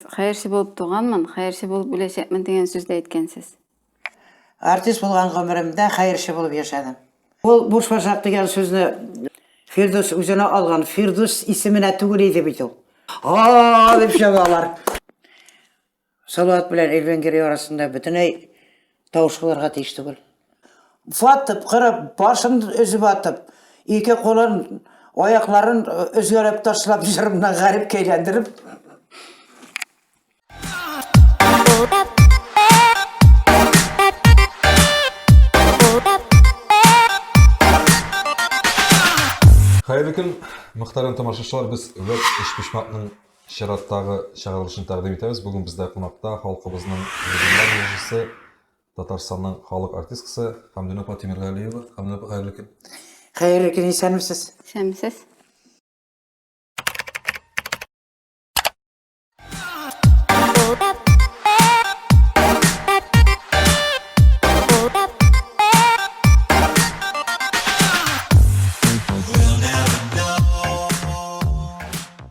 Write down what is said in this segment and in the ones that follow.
Хәерче булып туганмын, хәерче булып үләчәкмен дигән сүз дә әйткәнсез. Артист булган гомеремдә хәерче булып яшәдем. Ул буш башак дигән сүзне Фирдүс үзенә алган, Фирдүс исеменә түгел иде бит ул. Һа-а-а! дип чабалар. Салават белән Эльвин Герой арасында бөтенләй Тавыш кылырга тиеш түгел. Ватып, кырып, башын өзеп атып, ике кулын, аякларын өзгәрәп ташлап, җырымнан гарип кәйләндереп. Хәерле көн, мөхтәрәм тамашачылар, без вәт эшпишмакның Чираттагы чыгарылышны тәкъдим итәбез. Бүген бездә кунакта халкыбызның легендар җырчысы, Татарстанның халык артисткасы Хәмдүнә апа Тимергалиева. Хәмдүнә апа, хәерле көн. Хәерле көн, исәнмесез. Исәнмесез.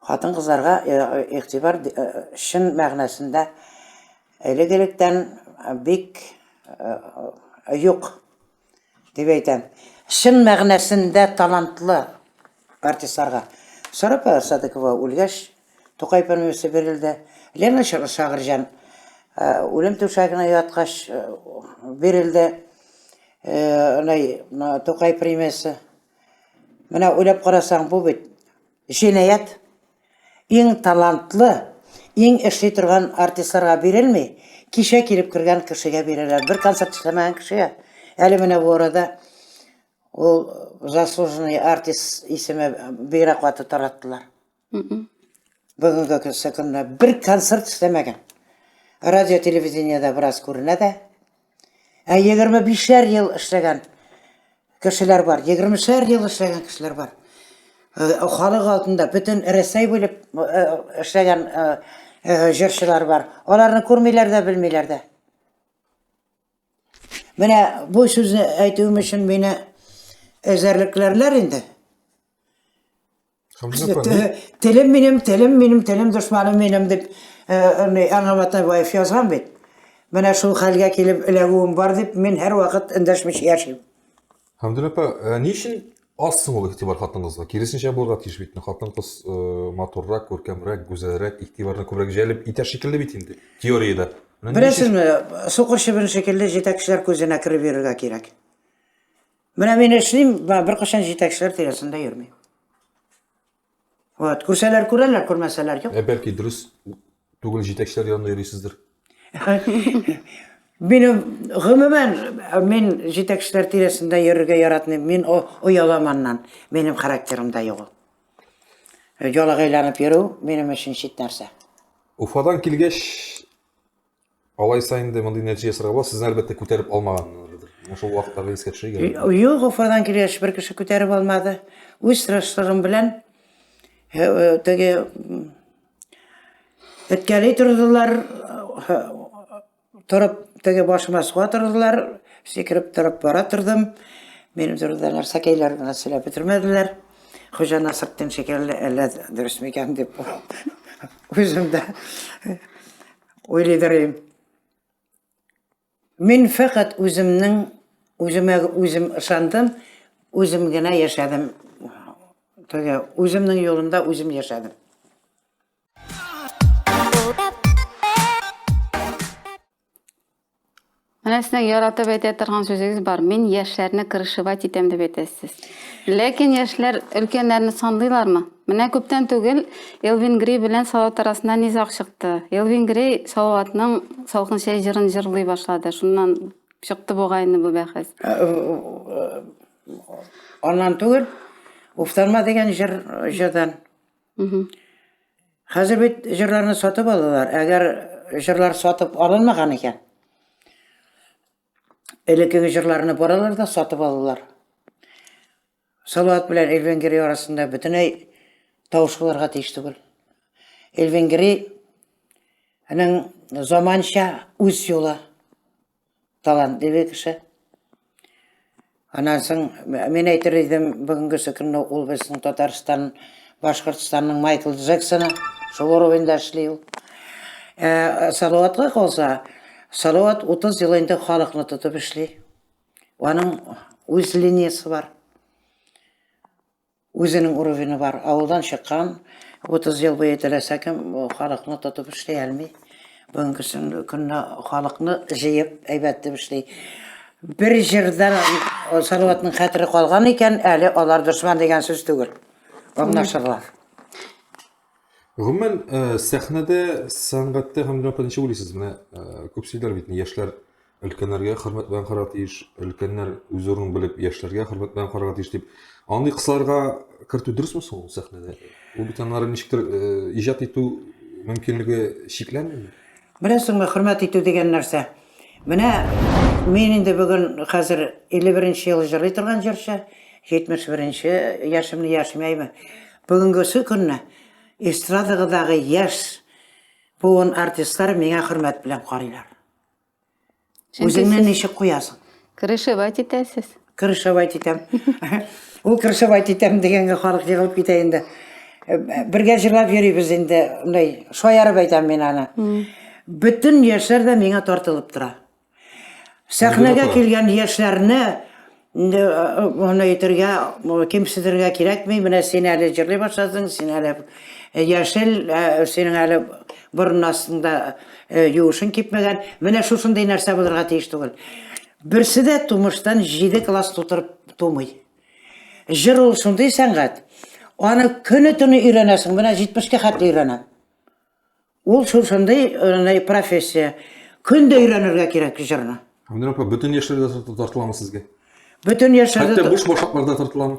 Хатын-кызларга игътибар чын мәгънәсендә элек-электән бик юк дип әйтәм. Чын мәгънәсендә талантлы артистларга. Сарапа Садыкова үлгәч, Тукай премиясе бирелде. Лена Шагырҗан үлем түшәгенә яткач бирелде Тукай премиясе. Менә уйлап карасаң, бу бит Җинаять иң талантлы, иң эшли торган артистларга бирелми, кичә килеп кергән кешегә бирәләр, бер концерт эшләмәгән кешегә. Әле менә бу арада ул заслуженный артист исеме бигрәк каты тараттылар. Бүгенге көнне бер концерт эшләмәгән. Радио-телевидениедә бераз күренә дә. Ә 25-шәр ел эшләгән кешеләр бар, 20-шәр ел эшләгән кешеләр бар. Э, халык алдында бөтен Рәсәй буйлап э, эшләгән э, җырчылар бар. Аларны күрмиләр дә, белмиләр дә. Менә бу сүзне әйтүем өчен мине эзәрлекләрләр инде. Телем минем, телем минем, телем дошманым минем деп Ана Матабаев язган бит. Менә шул хәлгә килеп эләгүем бар дип, мин һәр вакыт эндәшмичә яшим. Хәмдүл апа, ә ни өчен аз соң ул игътибар хатыныңызга? Киресенчә булырга тиеш бит. Хатын-кыз матуррак, күркәмрәк, гүзәлрәк, игътибарны күбрәк җәлеп итәр шикелле бит инде, теориядә. Беләсезме, сукыр чебен шикелле җитәкчеләр күзенә кереп йөрергә кирәк. Менә мин эшлим, беркайчан җитәкчеләр тирәсендә йөрми. Вот, күрсәләр күрәләр, күрмәсәләр юк. Ә бәлки дөрес түгел җитәкчеләр янында йөрисездер. Минем гомумән мин җитәкчеләр тирәсендә йөрергә яратмыйм. Мин оялам аннан. Минем характерымда юк. Ялагайланып йөрү минем өчен чит нәрсә. Уфадан килгәч, Алайса инде мондый нәтиҗә ясарга була, сезне әлбәттә күтәреп алмаганнардыр. Менә шул вакытларда искә төшерергә. Юк, Уфадан килгәч бер кеше күтәреп алмады. Үз тырышлыгым белән э, э, теге эткәли тордылар, э, торып теге башыма суга тордылар, сикереп торып бара тордым. Минем турында нәрсәкәйләр генә сөйләп бетермәделәр. Хуҗа Насретдин шикелле әллә дөресме икән дип үзем дә Уйлыйдыр идем. Мин фәкать үземнең, үземә үзем ышандым, үзем генә яшәдем. Теге, үземнең юлымда үзем яшәдем. Менә сезнең яратып әйтә торган сүзегез бар. Мин яшьләрне крышевать итәм дип әйтәсез. Ләкин яшьләр өлкәннәрне санлыйлармы? Менә күптән түгел Элвин Грей белән Салават арасында низаг чыкты. Элвин Грей Салаватның Салкын чәй җырын җырлый башлады. Шуннан чыкты бугай инде бу бәхәс. Аннан түгел, Уфтарма дигән җыр җырдан. Хәзер бит җырларны сатып алалар. Әгәр җырлар сатып алынмаган икән, элеккеге җырларны баралар да сатып алалар. Салават белән Элвин Грей арасында бөтенләй тавыш булырга тиеш түгел. Элвин Грей заманча үз юлы. талантлы бер кеше. Аннан соң мин әйтер идем, бүгенгесе көнне ул безнең Татарстан, Башкортстанның Майкл Джексоны, шул уровеньда эшли ул. Ә, Салаватка калса, Салават 30 ел инде халыкны тотып эшли. Аның үз линиясе бар. Үзенең уровены бар, авылдан чыккан, 30 ел буе теләсә кем халыкны тотып эшли әлми. Бүгенге көнне халыкны җыеп әйбәт дип эшли. Бер җырда Салаватның хәтере калган икән, әле алар дошман дигән сүз түгел. Аңлашырлар. Гомумән, э, сәхнәдә, сәнгатьтә һәм дөнья ничек уйлыйсыз? Менә э, күп сөйлиләр бит, яшьләр өлкәннәргә хөрмәт белән карарга тиеш, өлкәннәр үз урынын белеп, яшьләргә хөрмәт белән карарга тиеш дип. Андый кысаларга кертү дөресме соң ул сәхнәдә? Ул бит аннары ничектер э, иҗат итү мөмкинлеге чикләнмиме? Беләсеңме, хөрмәт итү дигән нәрсә? Менә мин инде бүген хәзер 51 нче ел җырлый торган җырчы, 71 нче яшемне яшмәйме. Бүгенгесе көнне эстрадагыдагы яшь буын артистлар миңа хөрмәт белән карыйлар. Үзеңне ничек куясың? Крышевать итәсез. Крышевать итәм. Ул крышевать итәм дигәнгә халык егылып китә инде. Бергә җырлап йөрибез инде, мындай шаярып әйтәм мин аны. Бөтен яшьләр дә миңа тартылып тора. Сәхнәгә килгән яшьләрне инде аны әйтергә, кимсетергә кирәкми. Менә син әле җырлый башладың, син әле яшел, синең әле борын астында юышың кипмәгән. Менә шушындый нәрсә булырга тиеш түгел. Берсе дә тумыштан җиде класс тутырып тумый. Җыр ул шундый сәнгать, аны көне-төне өйрәнәсең, менә 70-кә хәтле өйрәнәм. Ул шул шундый э, профессия. Көн дә өйрәнергә кирәк җырны. Гөлнур апа, бөтен яшьләрдә тартыламы сезгә? Бөтен яшьләрдә... Хәтта буш башакларда тартыламы?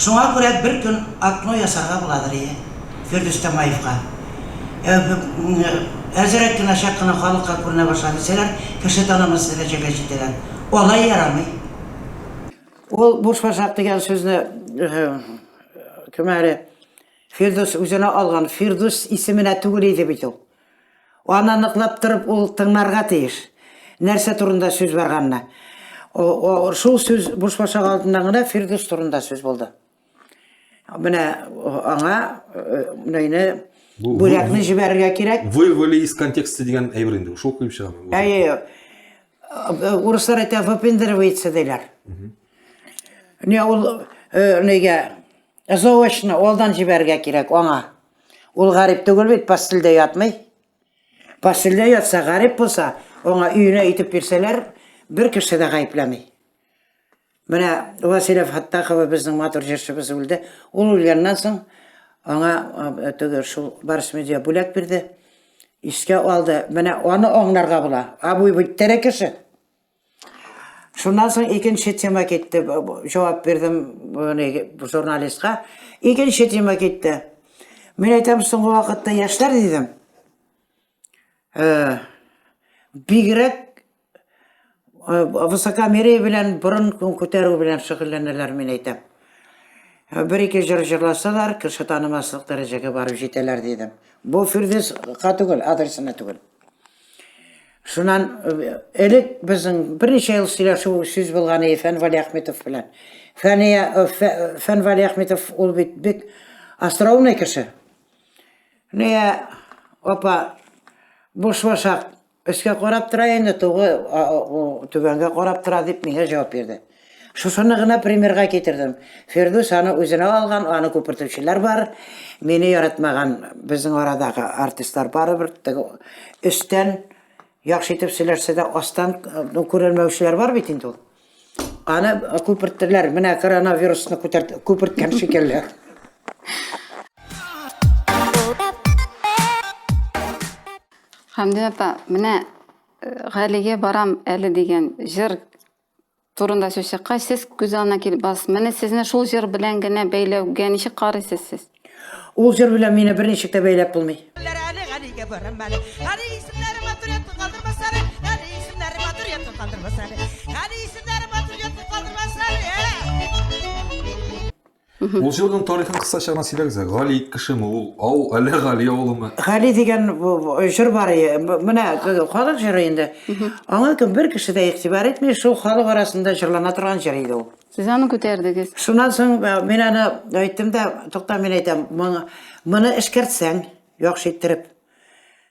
Шуңа күрә бер көн окно ясарга буладыр, ие, Фирдүс Тямаевка. Әзрәк кенә, чак кына халыкка күренә башла дисәләр, кеше танымас дәрәҗәгә җитәләр. Алай ярамый. Ул бушбашак дигән сүзне кем әле Фирдүс үзенә алган, Фирдүс исеменә түгел иде бит ул. Аны ныклап торып ул тыңларга тиеш. Нәрсә турында сүз барганны. Шул сүз бушбашак алдыннан гына Фирдүс турында сүз булды. Менә аңа менә Бүләкне җибәрергә кирәк. Вырвали из контекста дигән әйбер инде. Шул куеп чыгамы? Әйе. Урыслар әйтә, выпендривается диләр. Не ул нигә Ә заочно алдан җибәрергә кирәк аңа. Ул гарип түгел бит, постельдә ятмый. Постельдә ятса, гарип булса, аңа өенә итеп бирсәләр, бер кеше дә гаепләми. Менә Василия Фаттахова безнең матур җырчыбыз үлде. Ул үлгәннән соң аңа э, теге шул Барс медиа бүләк бирде. Искә алды. Менә аны аңларга була. Абый бит тере кеше. Шуннан соң икенче тема китте. Җавап бирдем журналистка. Икенче тема китте. Мин әйтәм, соңгы вакытта яшьләр дидем. Э, бигрәк э, высокомерие белән борын күтәрү белән шөгыльләнәләр, мин әйтәм. Э, бер ике җыр җырласалар, кеше танымаслык дәрәҗәгә барып җитәләр дидем. Бу Фирдис ка түгел, адресына түгел. Шуннан э, элек безнең берничә ел сөйләшү сүз булган иде Фән Валиәхметов белән. Фәния э, э, Фән Валиәхметов ул бит бик остроумный кеше. Ния апа буш башак өскә карап тора инде, тугы түбәнгә карап тора дип миңа җавап бирде. Шушыны гына примерга китердем. Фирдүс аны үзенә алган, аны күпертүчеләр бар. Мине яратмаган безнең арадагы артистлар барыбер теге өстән яхшы итеп сөйләшсә дә астан ну, күренмәүчеләр бар бит инде ул. Аны күперттеләр. Менә коронавирусны күтәрт күперткән шикелле. Хәмдия апа, менә э, Галигә барам әле дигән җыр турында сүз чыккач, сез күз алдына килеп барасыз. Менә сезне шул җыр белән генә бәйләүгә ничек карыйсыз сез? Ул җыр белән мине берничек тә бәйләп булмый. Ул җырның тарихын кыскача гына сөйләгез әле. Гали кешеме ул? Ау, әллә Гали авылымы? Гали дигән җыр бар ие. Менә халык җыры инде. Аңа кем бер кеше дә игътибар итми, шул халык арасында җырлана торган җыр иде ул. Сез аны күтәрдегез. Шуннан соң мин аны әйттем дә, тукта, мин әйтәм, моны эшкәртсәң, яхшы иттереп.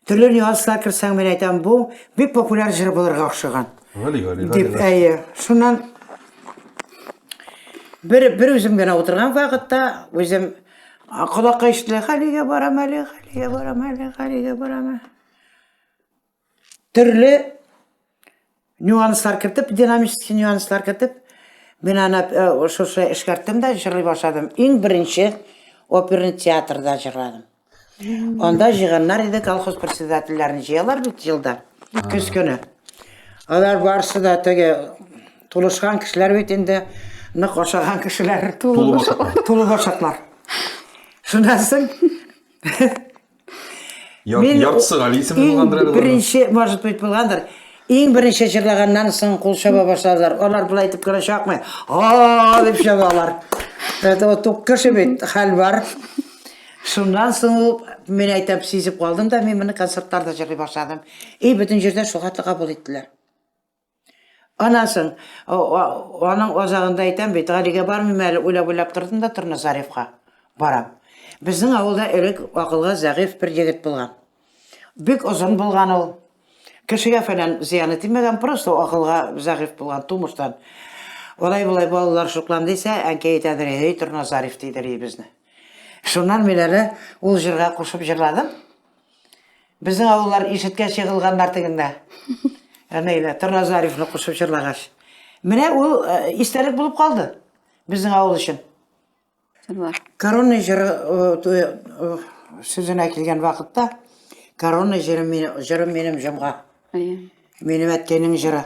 Төрле нюанслар керсәң, мин әйтәм, бу бик популяр җыр булырга охшаган. Гали, гали, гали. Дип, әйе. Шуннан бер, бер үзем генә утырган вакытта, үзем колакка ишетелә, Галигә барам әле, Галигә барам әле, Галигә барам әле. Төрле Нюанслар кертеп, динамический нюанслар кертеп, мин аны э, шушы эшкәрттем дә җырлый башладым. Иң беренче оперный театрда җырладым. Анда җыйганнар иде колхоз председательләрен җыялар бит елда, көз көне. Алар барысы да теге тулышкан кешеләр бит инде, нык ашаган кешеләр. Тулы башаклар. Шуннан соң Яр, Мин яртысы Гали исемле иң булгандыр әле. Беренче, может быть, булгандыр. Иң беренче җырлаганнан соң кул чаба башладылар. Алар болай итеп кенә чакмый. А дип чабалар. Это вот тук кеше бит, хәл бар. Шуннан соң ул, мин әйтәм, сизеп калдым да, мин моны концертларда җырлый башладым. И бөтен җирдә шул хәтле кабул иттеләр. Аннан соң, аның азагында әйтәм бит, Галигә бармыйм әле, уйлап-уйлап тордым да Торназаревка барам. Безнең авылда элек акылга зәгыйфь бер егет булган. Бик озын булган ул. Кешегә фәлән зыяны тимәгән, просто акылга зәгыйфь булган тумыштан. Алай-болай балалар шуклан дисә, әнкәй әйтәдер, һей, Торназарев дидер ей безне. Шуннан мин әле ул җырга кушып җырладым. Безнең авыллар ишеткәч егылганнар тегендә. Әнәйлә, Торна Зарифны кушып җырлагач. Менә ул э, истәлек булып калды безнең авыл өчен. Җырлар. Корона җыры э, э, э, сүзенә килгән вакытта, корона җыры мин- җырым минем җомга. Әйе. Минем әткәйнең җыры.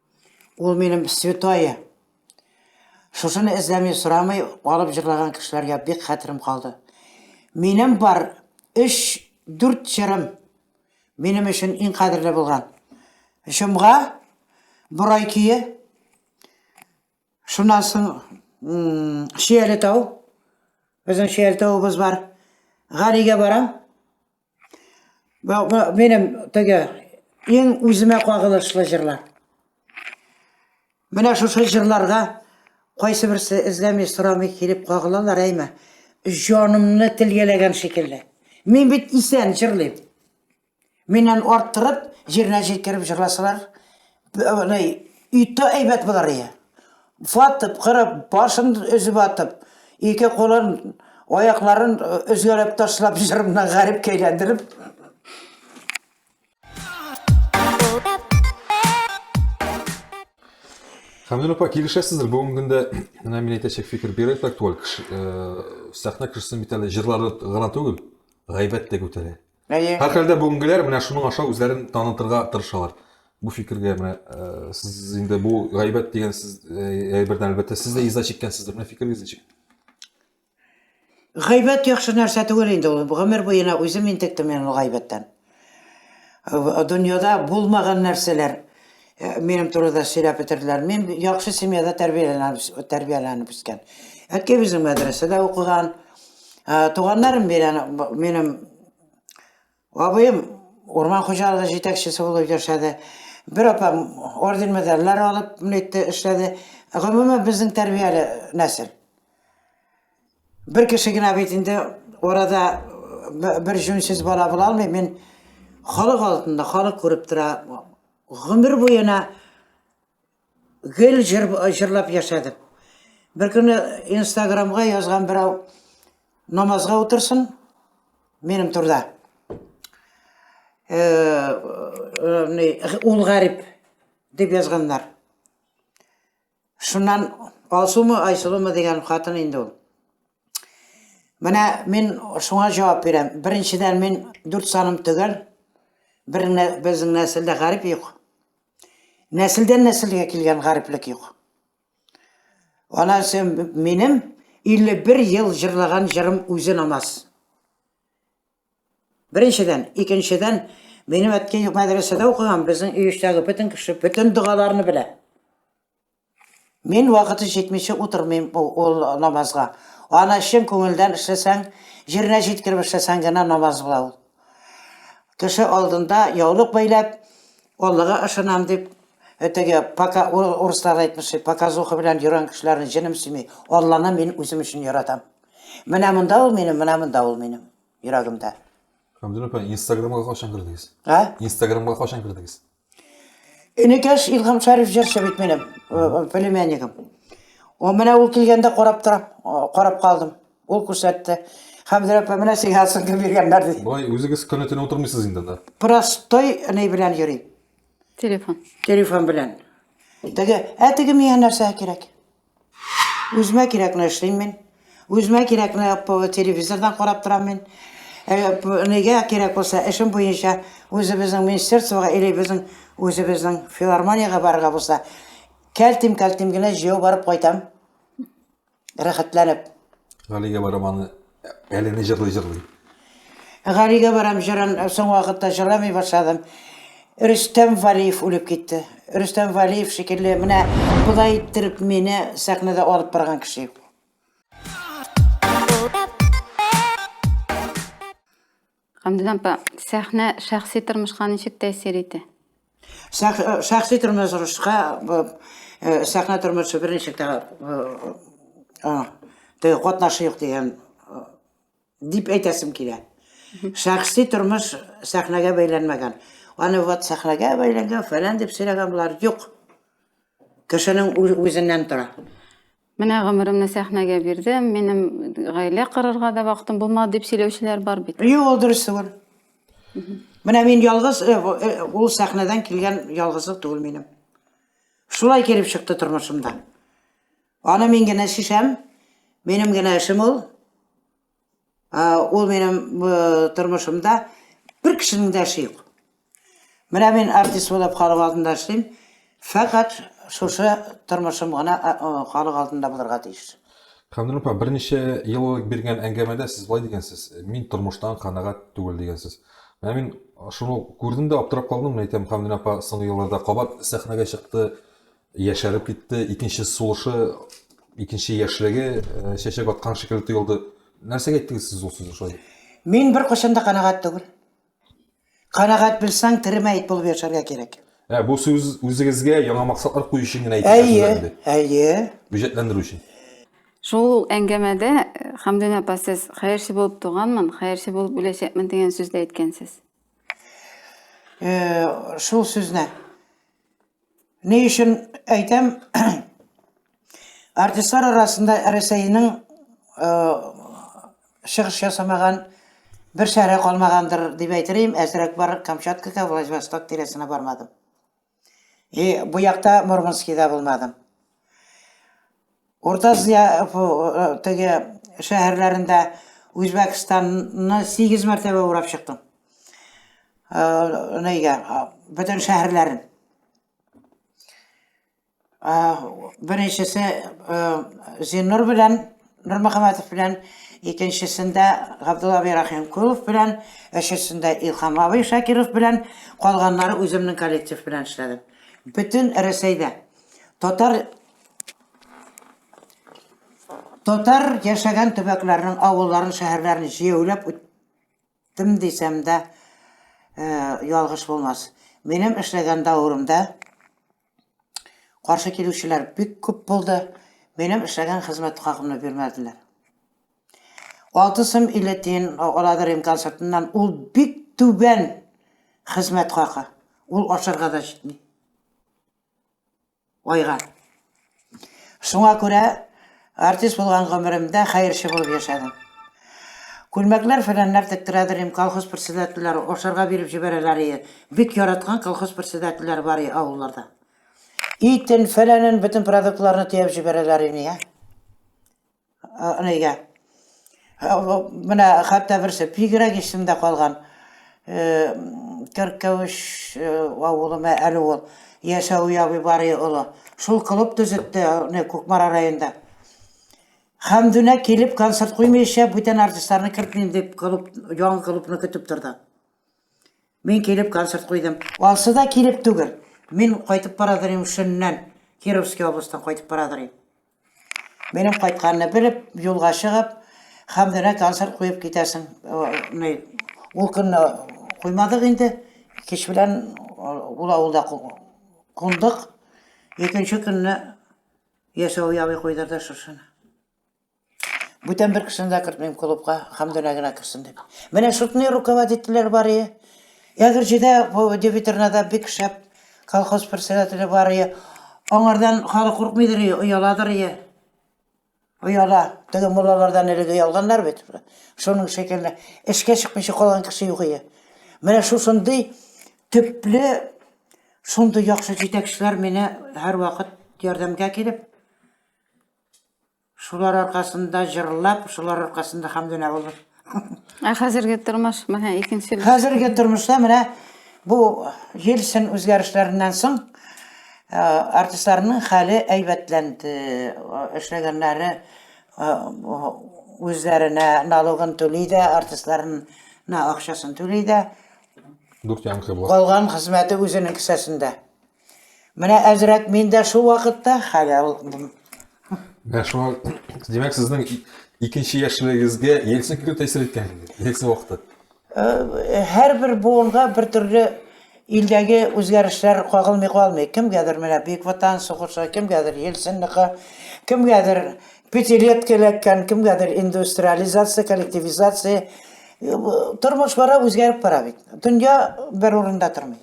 Ул минем святое. Шушыны эзләми, сорамый алып җырлаган кешеләргә бик хәтерем калды. Минем бар 3-4 җырым минем өчен иң кадерле булган. Җомга, Борай көе, шуннан соң Шияле тау, безнең Шияле тавыбыз бар, Галигә барам, Бу минем теге иң үземә кагылышлы җырлар. Менә шушы җырларга кайсы берсе эзләми сорамый килеп кагылалар, әйме. Җанымны телгәләгән шикелле. Мин бит исән җырлыйм. Миннән арттырып, җиренә җиткереп җырласалар, Әнәй, өйтә әйбәт булыр ие. Фатып, кырып, башын өзеп атып, ике кулын, аякларын өзгәләп ташлап, җырымнан гарипкә әйләндереп. Хәмдүн апа, килешәсездер, бүгенге көндә менә мин әйтәчәк фикер бигрәк актуаль. Кеше, сәхнә кешесен бит әле җырлары гына түгел, гайбәт тә күтәрә. Әйе. Һәрхәлдә бүгенгеләр менә шуның аша үзләрен танытырга тырышалар. Бу фикергә менә э, сез инде бу гайбәт дигән сез э, әйбердән әлбәттә сез дә иза чиккәнсездер. Менә фикерегез ничек? Гайбәт яхшы нәрсә түгел инде ул. Гомер буена үзем интектем мин ул гайбәттән. Э, Дөньяда булмаган нәрсәләр Ә, минем турыда сөйләп бетерделәр. Мин яхшы семьяда тәрбияләнеп, тәрбияләнеп үскән. Әткәй безнең мәдрәсәдә укыган. Ә, туганнарым белән б- минем абыем урман хуҗалыгы җитәкчесе булып яшәде. Бер апам орден медальләр алып нитте, эшләде. Гомумән безнең тәрбияле нәсел. Бер кеше генә бит инде арада б- бер җүнсез бала була алмый. Мин халык алдында, халык күреп тора, Гомер буена гел җыр җырлап яшәдем. Бер көне Инстаграмга язган берәү намазга утырсын минем турда. Э, э, ул гарип дип язганнар. Шуннан Алсумы, Айсылумы дигән хатын инде ул. Менә мин шуңа җавап бирәм. Беренчедән мин дүрт саным төгәл. Бер безнең нәселдә гарип юк. Нәселдән нәселгә килгән гариплек юк. Ана минем 51 ел җырлаган җырым үзе намаз. Беренчедән, икенчедән, минем әткәй мәдрәсәдә укыган, безнең өй эчтәге бөтен кеше бөтен догаларны белә. Мин вакыты җитмичә утырмыйм ул намазга. Аны чын күңелдән эшләсәң, җиренә җиткереп эшләсәң генә намаз була ул. Кеше алдында яулык бәйләп, Аллага ышанам дип, теге пока урыслар әйтмешли, показуха белән йөргән кешеләрне җенем сөйми. Алланы мин үзем өчен яратам. Менә монда ул минем, менә монда ул минем йөрәгемдә. Камзил апа, Инстаграмга качан кердегез? Ә? Инстаграмга качан кердегез? Энекәш Илһам Шәриф җырчы бит минем, э, племяннигым. О, менә ул килгәндә карап торам, э, карап калдым. Ул күрсәтте. Хәмзә апа, менә сиңа соңгы биргәннәр ди. Болай үзегез көне төне утырмыйсыз инде анда. Простой ни белән йөрим, Телефон. телефон белән. Теге, ә теге миңа нәрсә кирәк? Үземә кирәкне эшлим мин. Үземә кирәкне телевизордан карап торам мин. Нигә кирәк булса, эшем буенча үзебезнең министерствога или безнең үзебезнең филармониягә барырга булса, кәлтим-кәлтим генә җәяү барып кайтам, рәхәтләнеп. Галигә барып аны Әле не җырлый җырлый. Галигә барам җырын соң вакытта җырламый башладым. Рөстәм Валиев үлеп китте. Рөстәм Валиев шикелле менә болай иттереп мине сәхнәдә алып барган кеше юк. Гамдин апа, сәхнә шәхси тормышка ничек тәэсир итә? Шәхси тормышка сәхнә тормышы берничек тә теге катнашы юк дигән дип әйтәсем килә. Шәхси тормыш сәхнәгә бәйләнмәгән. Аны вот сәхнәгә бәйләнгән, фәлән дип сөйләгән булар, юк. Кешенең үзеннән тора. Менә гомеремне сәхнәгә бирдем, минем гаилә корырга да вакытым булмады дип сөйләүчеләр бар бит. Юк, ул дөрес түгел. Менә мин ялгыз, э, э, ул сәхнәдән килгән ялгызлык түгел минем. Шулай килеп чыкты тормышымда. Аны мин генә чишәм, минем генә эшем ул. Ул минем тормышымда бер кешенең дә эше юк. Менә мин артист булып халык алдында эшлим. Фәкать шушы тормышым гына халык алдында булырга тиеш. Камил апа, берничә ел элек биргән әңгәмәдә сез болай дигәнсез, мин тормыштан канәгать түгел дигәнсез. Менә мин шуны күрдем дә аптырап калдым, әйтәм, Камил апа соңгы елларда кабат сәхнәгә чыкты, Яшәреп китте, икенче сулышы, икенче яшьлеге э, чәчәк аткан шикелле тоелды. Нәрсәгә әйттегез сез ул сүзне шулай? Мин бер кайчан да канәгать түгел. Канәгать белсәң, тере мәет булып яшәргә кирәк. Ә, бу сүз үзегезгә яңа максатлар кую өчен генә әйтелгән сүз Әйе, инде. әйе. Үҗәтләндерү өчен. Шул әңгәмәдә э, Хәмдүнә апа сез хәерче булып туганмын, хәерче булып үләчәкмен дигән сүз дә әйткәнсез. Э, Шул сүзне. Ни өчен әйтәм, артистлар арасында Рәсәйнең чыгыш ясамаган бер шәһәре калмагандыр дип әйтерим, әзрәк бар Камчаткага, Владивосток тирәсенә бармадым. И бу якта Мурманскида булмадым. Урта Азия теге шәһәрләрендә Үзбәкстанны 8 мәртәбә урап чыктым. Нигә? Бөтен шәһәрләрен. Беренчесе Зиннур белән Нурмөхәммәтов белән, икенчесендә Габдулла абый Рахимкулов белән, өченчесендә Илхам абый Шакиров белән, калганнары үземнең коллектив белән эшләдем. Бөтен Рәсәйдә татар Татар яшәгән төбәкләрнең авылларын, шәһәрләрен җәяүләп үттем дисәм дә, э, ялгыш булмас. Минем эшләгән давырымда каршы килүчеләр бик күп булды. Минем эшләгән хезмәт хакымны бирмәделәр. Алты сум илле тиен аладыр имкан сыртыннан. Ул бик түбән хезмәт хакы. Ул ашарга да җитми. Айга. Шуңа күрә артист булган гомеремдә хәерче булып яшәдем. Күлмәкләр фәләннәр тектерәдер идем, колхоз председательләре ашарга биреп җибәрәләр ие. Бик яраткан колхоз председательләре бар ие авылларда. Итен, фәләнен, бөтен продуктларны төяп җибәрәләр ине, я. Нигә? Менә хәтта берсе бигрәк исемдә калган. Керкәвеш авылымы әле ул? Яшәү ябый бары олы. Шул клуб төзетте, не Кукмара районында. Хәмдүнә килеп концерт куймыйча, бүтән артистларны кертмим дип, клуб, яңа клубны көтеп торды. Мин килеп концерт куйдым. Ансы да килеп түгел. Мин кайтып барадыр идем Шөннән, Кировский областьтан кайтып барадыр идем. Минем кайтканны белеп, юлга чыгып, Хәмдүнә концерт куеп китәсең. Э, ул көнне куймадык инде. Кич белән э, ул авылда кундык. Икенче көнне яшәү явый куйдырды шушыны. Бүтән бер кешене дә кертмим клубка, Хәмдүнә генә керсен дип. Менә шутный руководительләр бар ие. Ягерҗедә бу Девитернада бик шәп колхоз председателе бар ие. Аңардан халык куркмыйдыр ие, ояладыр ие. Ояла. Теге муллалардан элек оялганнар бит. Шуның шикелле. Эшкә чыкмыйча калган кеше юк ие. Менә шушындый төпле, шундый яхшы җитәкчеләр мине һәрвакыт ярдәмгә килеп, Шулар аркасында җырлап, шулар аркасында Хәмдүнә булдым. Ә хәзерге тормыш, менә икенче. Хәзерге тормышта менә бу ел-сын үзгәрешләреннән соң э, артистларның хәле әйбәтләнде. Э, Эшләгәннәре э, үзләренә налогын түли дә, артистларына акчасын түли дә. Дүрт янкы була. Калган хезмәте үзенең кесәсендә. Менә әзрәк мин дә шул вакытта хәләл булдым. Менә шуңа, димәк, сезнең икенче яшьлегегезгә Ельцин килү тәэсир иткән инде, Ельцин вакыты. Э, һәрбер буынга бер төрле илдәге үзгәрешләр кагылмый калмый. Кемгәдер менә Бөек Ватан сугышы, кемгәдер Ельцинныкы, кемгәдер пятилетка эләккән, кемгәдер индустриализация, коллективизация. Э, тормыш бара, үзгәреп бара бит. Дөнья бер урында тормый.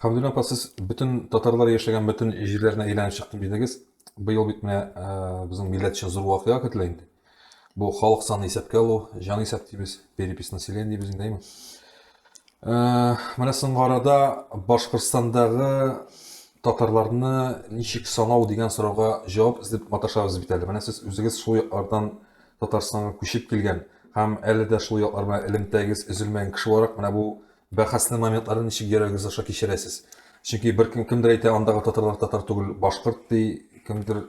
Хәмдулла апа, сез бөтен татарлар яшәгән бөтен җирләрне әйләнеп чыктым дидегез. Быел бит менә э, безнең милләт өчен зур вакыйга көтелә инде. Бу халык саны исәпкә алу, җан исәп дибез, перепись населения дибез инде, әйме? Э, менә соңгы арада Башкортстандагы татарларны ничек санау дигән сорауга җавап эзләп маташабыз бит әле. Менә сез үзегез шул яклардан Татарстанга күчеп килгән һәм әле дә шул яклар белән элемтәгез өзелмәгән кеше буларак, менә бу бәхәсле моментларны ничек йөрәгегез аша кичерәсез? Чөнки бер кем кемдер әйтә, андагы татарлар татар түгел, башкорт ди, кемдер.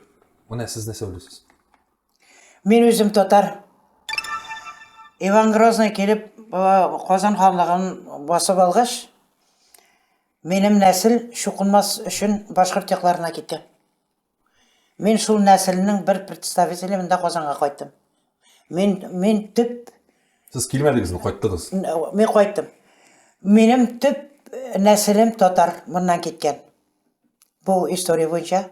Менә сез нәрсә уйлыйсыз? Мин үзем татар. Иван Грозный килеп, Казан ханлыгын басып алгач, минем нәсел чукынмас өчен башкорт якларына китә. Мин шул нәселнең бер представителе монда Казанга кайттым. Мин мин төп Сез килмәдегезме, кайттыгыз? Мин кайттым. Минем төп э, нәселем татар моннан киткән. Бу история буенча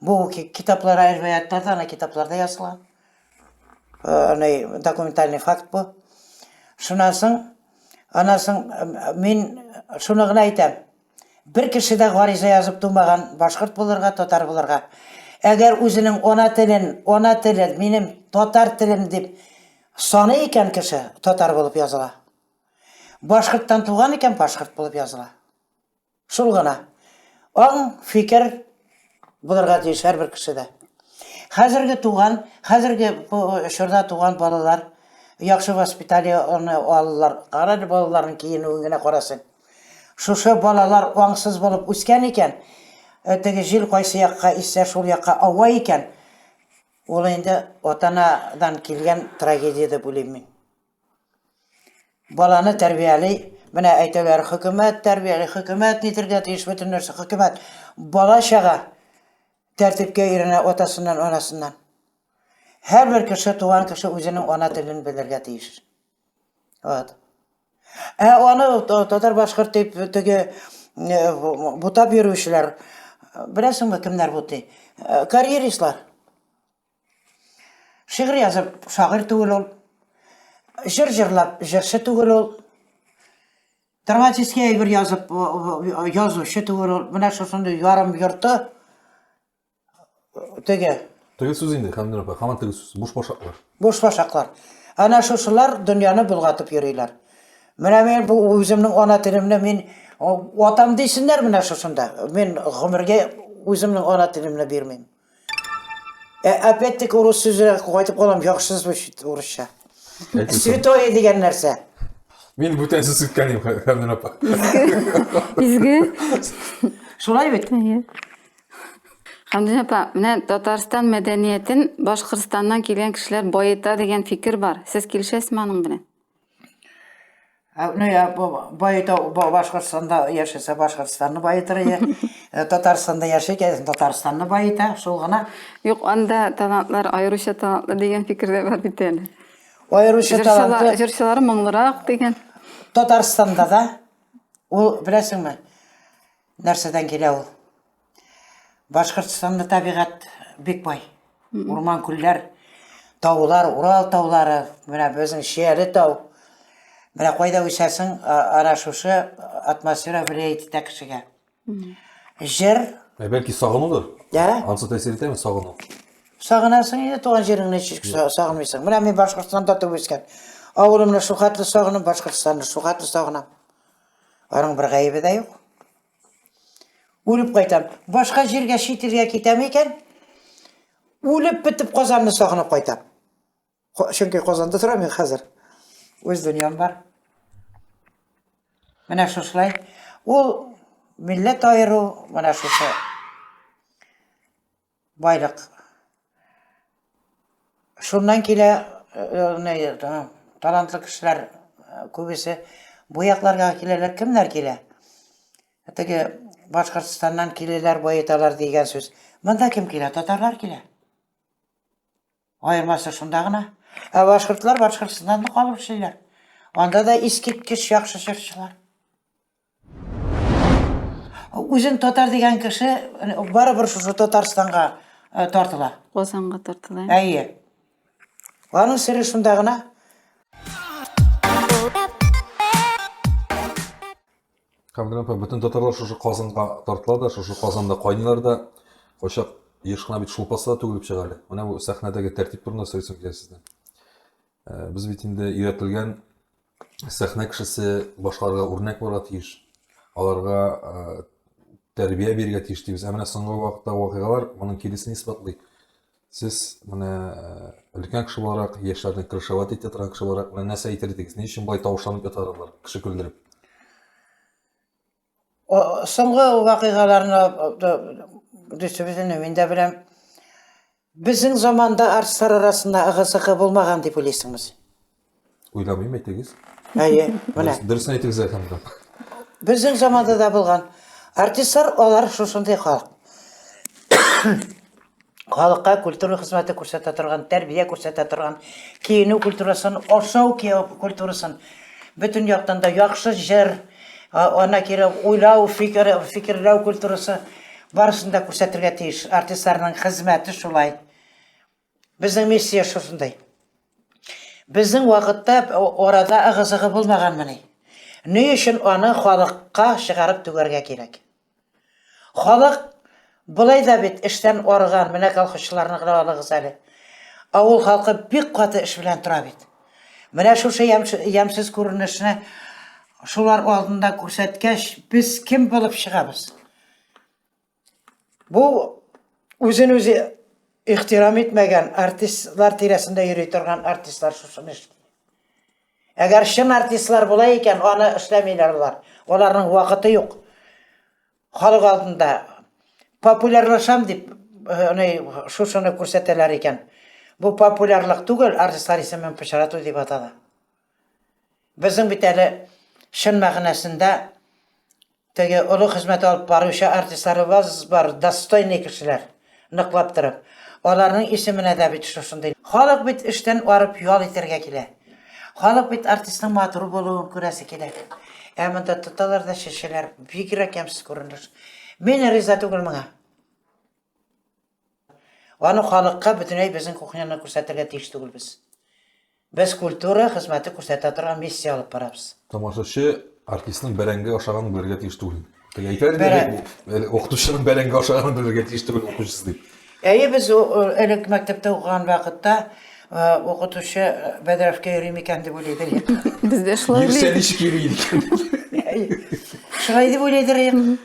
бу китаплар рәваятларда, ана китапларда язылган. Э, аны документальный факт бу. Шуннан соң, аннан соң э, мин шуны гына әйтәм. Бер кеше дә гариза язып тумаган башкорт булырга, татар булырга. Әгәр үзенең ана телен, ана телен, минем татар телем дип саный икән кеше, татар булып языла. Башкорттан туган икән, башкорт булып языла. Шул гына. Аң, фикер булырга тиеш һәрбер кешедә. Хәзерге туган, хәзерге чорда туган балалар яхшы воспитание алалар. Кара балаларның киенүен генә карасын. Шушы балалар аңсыз булып үскән икән, теге җил кайсы якка иссә, шул якка ава икән, ул инде ата-анадан килгән трагедия дип уйлыйм мин. Баланы тәрбияли, менә әйтәләр, хөкүмәт тәрбияли, хөкүмәт нитергә тиеш бөтен нәрсә, хөкүмәт. Бала-чага тәртипкә өйрәнә атасыннан, анасыннан. Һәрбер кеше, туган кеше үзенең ана телен белергә тиеш. Вот. Ә аны татар-башкорт дип теге бутап йөрүчеләр, беләсеңме, кемнәр бутый? Карьеристлар. Шигырь язып, шагыйрь түгел ул. Җыр җырлап, җырчы түгел ул. Драматический әйбер язып, язучы түгел ул. Менә шушындый ярым йорты Теге. Теге сүз инде, Хәмдүн апа, хаман теге сүз, буш башаклар. Буш башаклар. Әнә шушылар дөньяны булгатып йөриләр. Менә мин бу үземнең ана телемне мин атам дисеннәр менә шушында. Мин гомергә үземнең ана телемне бирмим. Ә опять-таки урыс сүзенә кайтып калам, яхшы звучит урысча. Святое дигән нәрсә. Мин бүтән сүз үткәнем, Хәмдүн апа. Изге. Шулай бит? Хәмдүнә апа, менә Татарстан мәдәниятен Башкортстаннан килгән кешеләр баета дигән фикер бар. Сез килешәсезме аның белән? Ә, Ну, я бу- баета ба- Башкортстанда яшәсә, Башкортстанны баетыр, я э, Татарстанда яши, кәдесен Татарстанны баета, шул гына. Юк, анда талантлар аеруча талантлы дигән фикер дә бар бит әле. Аеруча Җырчылар, таланты җырчылары моңлырак дигән. Татарстанда да, ул, беләсеңме, Нәрсәдән килә ул? Башкортстанда табигать бик бай. Урман, күлләр, таулар, Урал таулары, менә безнең Шияле тау. Менә кайда үсәсең, ара шушы атмосфера влиять итә кешегә. Җыр. Ә бәлки сагынудыр? Ә? Ансы тәэсир итәме сагыну? Сагынасың инде туган җиреңне ничек сагынмыйсың. Менә мин Башкортстанда туып үскән. Авылымны шул хәтле сагынам, Башкортстанны шул хәтле сагынам. Аның бер гаебе дә юк. Үлеп кайтам. Башка җиргә чит илгә китәм икән, үлеп бетеп Казанны сагынып кайтам. Чөнки Казанда торам мин хәзер. Үз дөньям бар. Менә шушылай. Ул милләт аеру, менә шушы Байлык. Шуннан килә, э, талантлы кешеләр э, күбесе бу якларга киләләр. Кемнәр килә? Теге Башкортстаннан киләләр, баеталар дигән сүз. Монда кем килә? Татарлар килә. Аермасы шунда гына. Ә башкортлар Башкортстаннан калып эшлиләр. Анда да искиткеч яхшы җырчылар. Үзен татар дигән кеше барыбер шушы Татарстанга э, тартыла. Казанга тартыла. Әйе. Аның сере шунда гына. Камилә апа, бөтен татарлар шушы Казанга тартыла да, шушы Казанда кайнылар да, кайчак еш кына бит шулпасы да түгелеп чыга әле. Менә бу сәхнәдәге тәртип турында сөйләсәм килә сездән. Э, без бит инде өйрәтелгән сәхнә кешесе башкаларга үрнәк булырга тиеш аларга э, тәрбия бирергә тиеш дибез ә менә соңгы вакытта вакыйгалар моның киресен исбатлый сез менә э, өлкән кеше буларак яшьләрне крышевать итә торган кеше буларак менә нәрсә әйтер идегез ни өчен болай тавышланып яталар алар кеше көлдереп Соңгы вакыйгаларны дөресебезне мин дә беләм. Безнең заманда артистлар арасында ыгы-зыгы булмаган дип уйлыйсыңмы син? Уйламыйм, әйтегез. Әйе, менә. Дөресен әйтегез, Әхәмгә. Безнең заманда да булган. Артистлар алар шушындый халык. халыкка культура хезмәте күрсәтә торган, тәрбия күрсәтә торган, киенү культурасын, ашау кияү культурасын бөтен яктан да яхшы җыр, ана кире уйлау, фикер, фикерләү культурасы барысын да күрсәтергә тиеш. Артистларның хезмәте шулай. Безнең миссия шушындай. Безнең вакытта арада ыгы-зыгы булмаганмыни? Ни өчен аны халыкка чыгарып түгәргә кирәк? Халык болай да бит эштән арыган, менә колхозчыларны гына алыгыз әле. Авыл халкы бик каты эш белән тора бит. Менә шушы ямьсез күренешне шулар алдында күрсәткәч, без кем булып чыгабыз? Бу үзен үзе ихтирам итмәгән артистлар тирәсендә йөри торган артистлар шушыны эшли. Әгәр чын артистлар була икән, аны эшләмиләр алар. Аларның вакыты юк. Халык алдында популярлашам дип, аны шушыны күрсәтәләр икән. Бу популярлык түгел, артистлар исемен пычрату дип атала. Безнең бит әле чын мәгънәсендә Теге олы хезмәт алып баручы артистларыбыз бар, достойный кешеләр, ныклап торып. Аларның исеменә дә бит шушындый. Халык бит эштән арып ял итәргә килә. Халык бит артистның матур булуын күрәсе килә. Ә монда тоталар да чәчәләр. Бигрәк ямьсез күренеш. Мин риза түгел моңа. Аны халыкка бөтенләй безнең кухняны күрсәтергә тиеш түгелбез. Без культура хезмәте күрсәтә торган миссия алып барабыз. Тамашачы артистның бәрәңге ашаганын белергә тиеш түгел. Теге әйтә инде, Бәрән- бу- әле укытучының бәрәңге ашаганын белергә тиеш түгел укучысы дип. Әйе, без у- у- элек мәктәптә укыган вакытта э, укытучы э, бәдрәфкә йөри микән дип уйлый идек. Без дә шулай Йөрсә уйлыйбыз. ничек йөри икән? Әйе. Шулай дип уйлый идек.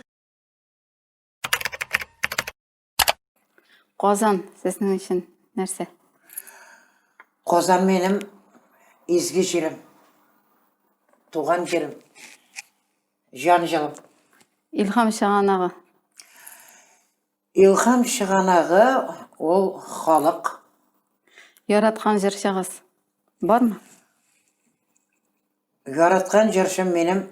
Казан сезнең өчен нәрсә? Казан минем изге җирем. Туган җирем. Җан җылым. Илхам чыганагы. Илхам чыганагы ул халык. Яраткан җырчыгыз бармы? Яраткан җырчым минем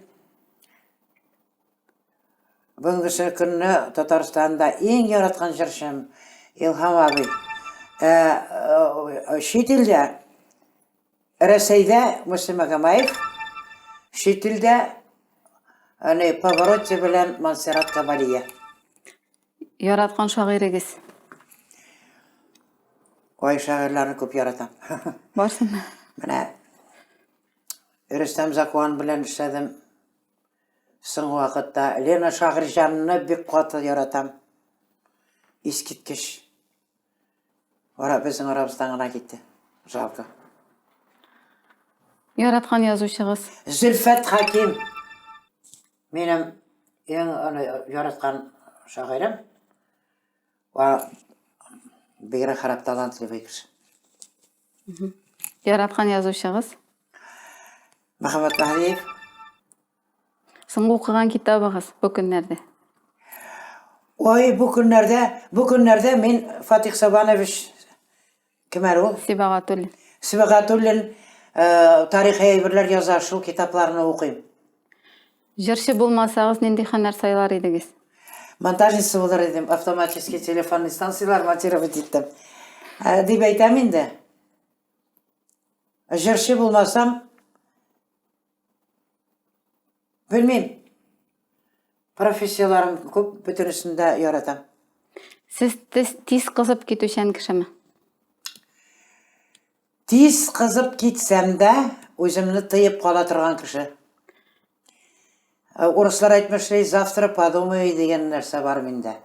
бүгенгесе көнне Татарстанда иң яраткан җырчым Илһам абый. Ә, э, чит илдә Рәсәйдә Муслим Магомаев, чит илдә Паваротти белән Монсеррат Кабалия. Яраткан шагыйрегез. Ой, шагыйрьләрне күп яратам. Барсын. Менә Рөстәм Закуан белән эшләдем. Соңгы вакытта Лена Шагырҗанны бик каты яратам. Искиткеч. Ара безнең арабыздан гына китте. Жалко. Яраткан язучыгыз. Зөлфәт Хаким. Минем иң аны яраткан шагыйрем ва бигрәк харап талантлы бер кеше. Яраткан язучыгыз? Мөхәммәт Мәһдиев. Соңгы укыган китабыгыз бу көннәрдә? Ой, бу көннәрдә, бу көннәрдә мин Фатих Сабанович Кем әле ул? Сибагатуллин. Сибагатуллин э, тарихи әйберләр яза, шул китапларны укыйм. Җырчы булмасагыз, нинди һөнәр сайлар идегез? Монтажница булыр идем, автоматический телефонный станциялар монтировать иттем. Ә, дип әйтәм инде. Җырчы булмасам, Белмим. Профессияләрен күп, бөтенесен дә яратам. Сез тиз кызып китүчән кешеме? Тиз кызып китсәм дә, үземне тыеп кала торган кеше. Э, урыслар әйтмешли, завтра подумай дигән нәрсә бар миндә.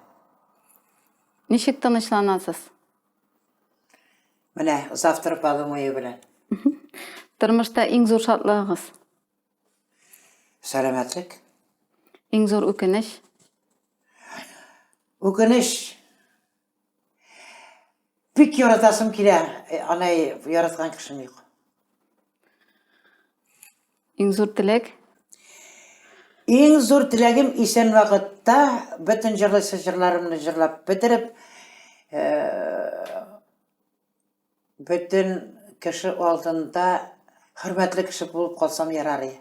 Ничек тынычланасыз? Менә завтра подумаю белән. Тормышта иң зур шатлыгыгыз? Сәламәтлек. Иң зур үкенеч? Үкенеч. Бик яратасым килә, э, аны яраткан кешем юк. Иң зур теләк? Иң зур теләгем исән вакытта бөтен җырлыйсы җырларымны җырлап бетереп, э, бөтен кеше алдында хөрмәтле кеше булып калсам ярар иде.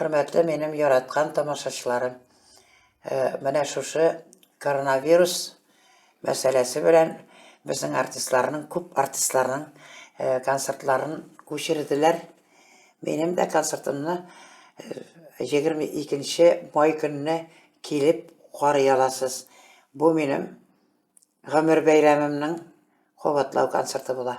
Хөрмәтле минем яраткан тамашачыларым, менә шушы коронавирус мәсьәләсе белән безнең артистларның, күп артистларның концертларын күчерделәр. Минем дә концертымны 22 май көнне килеп карый аласыз. Бу минем гомер бәйрәмемнең кабатлау концерты була.